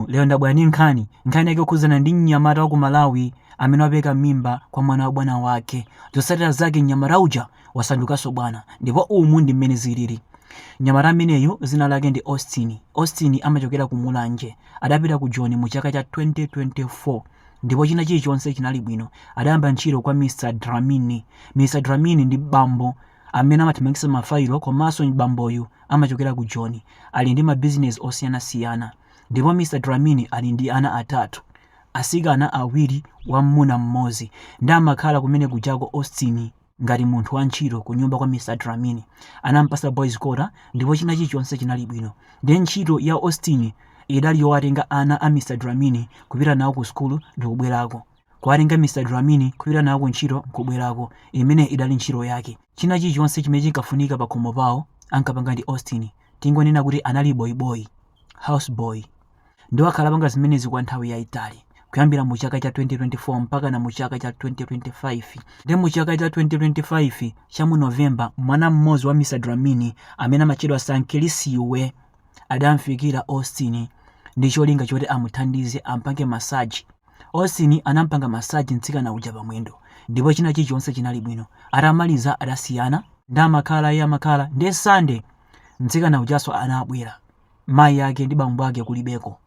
Lero ndabwera ndi nkhani. Nkhani yake ikukhudzana ndi mnyamata waku Malawi amene wapereka mimba kwa mwana wa bwana wake. Zotsatira zake mnyamata uja wasandukanso bwana ndipo umu ndi mmene zilili. Mnyamata ameneyu dzina lake ndi Austin. Austin amachokera ku Mulanje. Adapita ku Joni mu chaka cha 2024 ndipo china chilichonse chinali bwino. Adayamba ntchito kwa Mr Dlamini. Mr Dlamini ndi bambo amene amathamangitsa mafayilo komanso bamboyu amachokera ku Joni. Ali ndi mabizinezi osiyanasiyana. Ndipo Mr Dlamini ali ndi ana atatu, atsikana awiri wammuna mmodzi, nde amakhala kumene kujako Austin ngati munthu wa ntchito kunyumba kwa Mr Dlamini. Anampatsa boys quarter ndipo china chilichonse chinali bwino. Nde ntchito ya Austin idali yowatenga ana a Mr Dlamini kupita nawo ku school ndikubwerako. Kuwatenga Mr Dlamini kupita nawo ku ntchito nkubwerako, imeneyo idali ntchito yake. China chilichonse chimene chinkafunika pakhomo pawo ankapanga ndi Austin. Tingonena kuti anali boyi boyi. houseboy, nde wakhala akupanga zimenezi kwa nthawi yaitali kuyambira mu chaka cha 2024 mpakana mu chaka cha 2025 nde mu chaka cha 2025 cha mu november mwana mmodzi wa mr dlamini amene amatchedwa sankilisiwe adamfikira austin ndi cholinga choti amuthandize ampange masaji austin anampanga masaji mtsikana uja pamwendo ndipo china chilichonse chinali bwino atamaliza adasiyana nde amakhalaye amakhalaye nde sunday Mtsikana ujanso anabwera mayi ake ndi bambo ake kulibeko.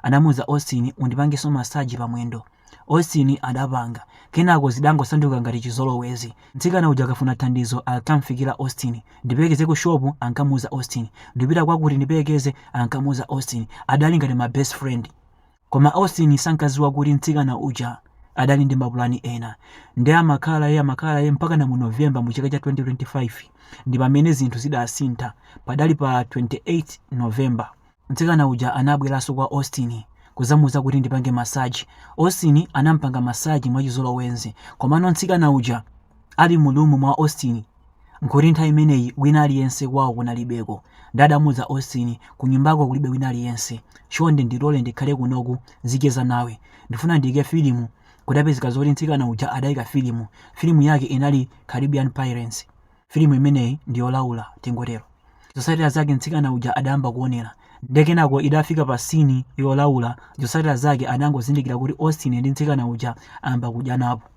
Anamuuza Austin, undipangenso massage pamwendo. Austin adapanga. Kenako zidangosanduka ngati chizolowezi. Mtsikana uja akafuna thandizo ankamfikira Austin. Ndipelekeze ku shop? ankamuuza Austin. Ndikupita kwakuti ndipelekeze? ankamuuza Austin. Adali ngati ma best friend. Koma Austin sankaziwa kuti mtsikana uja adali ndi mapulani ena. Nde amakhalaye amakhalaye mpakana mu November mu chaka cha 2025 ndipamene zinthu zidasintha. Padali pa 28 November. Mtsikana uja anabwelaso kwa Austin kuzamuuza kuti ndipange massage. Austin anampanga massage mwachizolowezi. Komano mtsikana uja ali mu room mwa Austin. Nkuti nthawi imeneyi wina aliyense kwawo kunalibeko. Nde adamuuza Austin, Kunyumbako kulibe wina aliyense. Chonde ndilole ndikhale kunoku nzicheza nawe. Ndifuna ndiike filimu. Kudapezeka zoti mtsikana uja adaika filimu. Filimu yake inali Caribbean Pirates. Filimu imeneyi ndi yolaula, tingotero. Zotsatira zake mtsikana uja adayamba kuonera. Nde kenako idafika pa scene yolaula, zotsatira zake adangozindikira kuti Austin ndi mtsikana uja ayamba kudyanapo.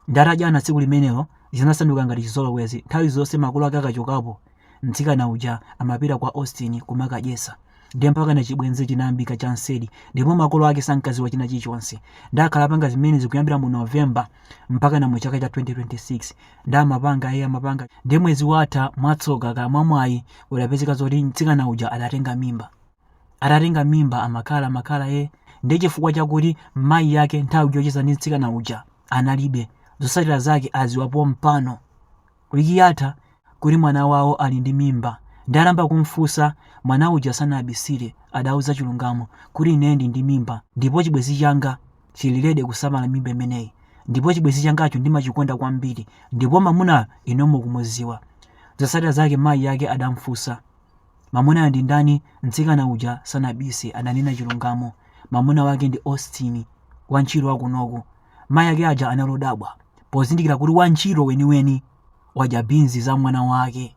Nde atadyana tsiku limenelo zinasanduka ngati chizolowezi nthawi zonse makolo ake akachokapo mtsikana uja amapita kwa Austin kumakadyesa nde mpakana chibwenzi chinayambika cha nseri ndipo makolo ake sankaziwa china chilichonse nde akhala akupanga zimenezi kuyambira mu November mpakana mu chaka cha 2026 nde amapanga ee amapanga nde mwezi watha mwatsoka kaya mwamwayi kudapezeka zoti mtsikana uja adatenga mimba adatenga mimba amakhala amakhala e nde chifukwa chakuti mayi ake nthawi yocheza ndi mtsikana uja analibe zosatira zake aziwa pompano wiki yatha kuti mwana wawo ali ndi mimba nde anayamba kumfusa mwana uja sanabisire adauza chilungamo kuti ine ndili ndi mimba ndipo chibwezi changa chili lede kusamala mimba imeneyi ndipo chibwezi changacho ndimachikonda kwambiri ndipo mamunayo inu mukumuziwa zosatira zake mayi ake adamfunsa Mamunayo ndi ndani? Mtsikana uja sanabise, ananena chilungamo. Mamuna wake ndi Austin, wantchito wa kunoku. Mayi ake aja anali odabwa pozindikira kuti wantchito weniweni wadya binzi za mwana wake.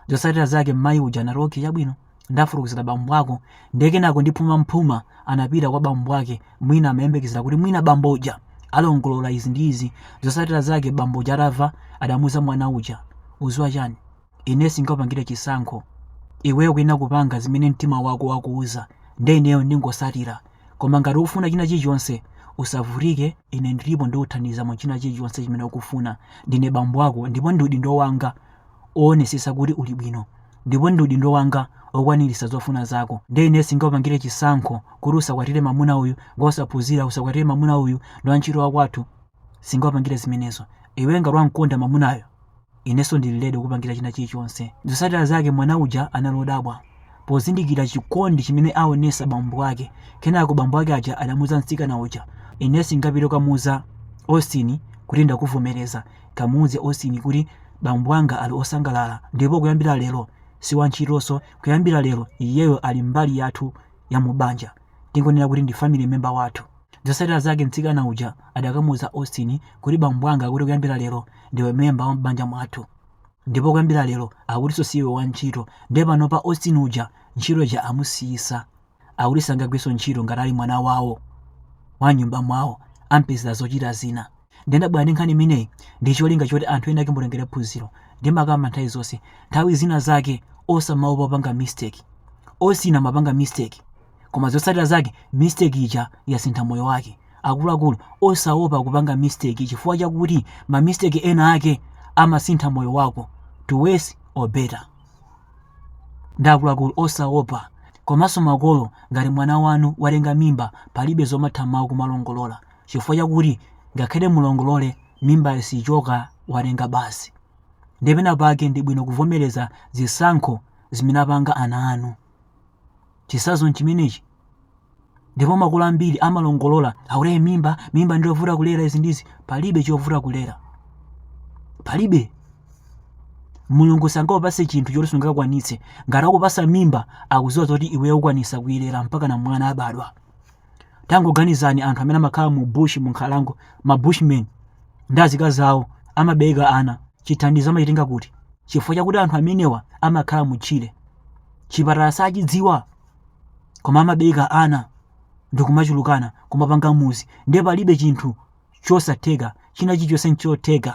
Zotsatira zake mayi uja anati okay, chabwino ndafotokozera bambo ako ndiye kenako ndi phumaphuma anapita kwa bambo ake mwina amayembekezera kuti mwina bambo uja alongolola izi ndi izi zotsatira zake bambo uja atava adamuza mwana uja uziwa chani Ine singakupangire chisankho. Iweyo ukuyenera kupanga zimene mtima wako wakuuza nde ineyo ndingosatira koma ngati ukufuna china chilichonse usavutike ine ndilipo ndikuthandiza mu china chilichonse chimene ukufuna ndine bambo ako ndipo ndi udindo wanga woonesesa kuti uli bwino ndipo ndi udindo wanga wokwanilisa zofuna zako nde ine singakupangire chisankho kuti usakwatire mamuna uyu ngosaphunzira usakwatire mamuna uyu ndi wantchito wakwathu singakupangire zimenezo. Iwe ngati wamkonda mamunayo, inenso ndili lede kukupangira china chilichonse. Zotsatira zake mwana uja anali odabwa pozindikira chikondi chimene aonesa bambo ake. Kenako bambo ake aja adamuza mtsikana uja, Ine singapite kukamuza Austin kuti ndakuvomereza. Kamuuze Austin kuti bambo anga ali osangalala ndipo kuyambira lero si wantchitonso. Kuyambira lero iyeyo ali mbali yathu ya mu banja. tingonena kuti ndi family member wathu. Zotsatira zake mtsikana uja adakamuuza Austin kuti bambo anga akuti kuyambira lero ndiwe member wa m'banja mwathu ndipo kuyambira lero akutinso si iwe wantchito nde panopa Austin uja ntchito ija amusiyisa akuti sangagwirenso ntchito ngati ali mwana wawo wa mnyumba mwawo ampezera zochita zina. Ndabwera ndi nkhani imeneyi ndi cholinga choti anthu ena ake mutengere phunziro. Ndimakamba nthawi zonse, nthawi zina zake osamaopa kupanga mistake. Austin anapanga mistake koma zotsatira zake mistake ija yasintha moyo wake. Akuluakulu osaopa kupanga mistake chifukwa chakuti ma mistake ena ake amasintha moyo wako to worse or better. Nde akuluakulu osaopa komanso makolo ngati mwana wanu watenga mimba palibe zomatha mau kumalongolola. chifukwa chakuti ngakhale mulongolole mimbayo sichoka watenga basi. Ndiye pena pake ndi bwino kuvomereza zisankho zimene apanga ana anu. Chisazo nchimenechi. Ndipo makolo ambiri amalongolola za kulera mimba, mimba ndiyovuta kulera izi ndizi, palibe chovuta kulera. Palibe. Mulungu sangakupase chinthu choti sungakwanitse. Ngati akupasa mimba, akuziwa zoti iweyo ukwanisa kuilera mpaka na mwana abadwa. Tangoganizani anthu amene amakhala mu bush mu nkhalango, ma bushmen ndi azikazi awo amabereka ana, chithandizo amachitenga kuti? Chifukwa chakuti anthu amenewa amakhala mu tchire. Chipatala sachidziwa koma amabereka ana ndikumachulukana kumapanga muzi ndiye palibe chinthu chosatheka china chilichonse nchotheka.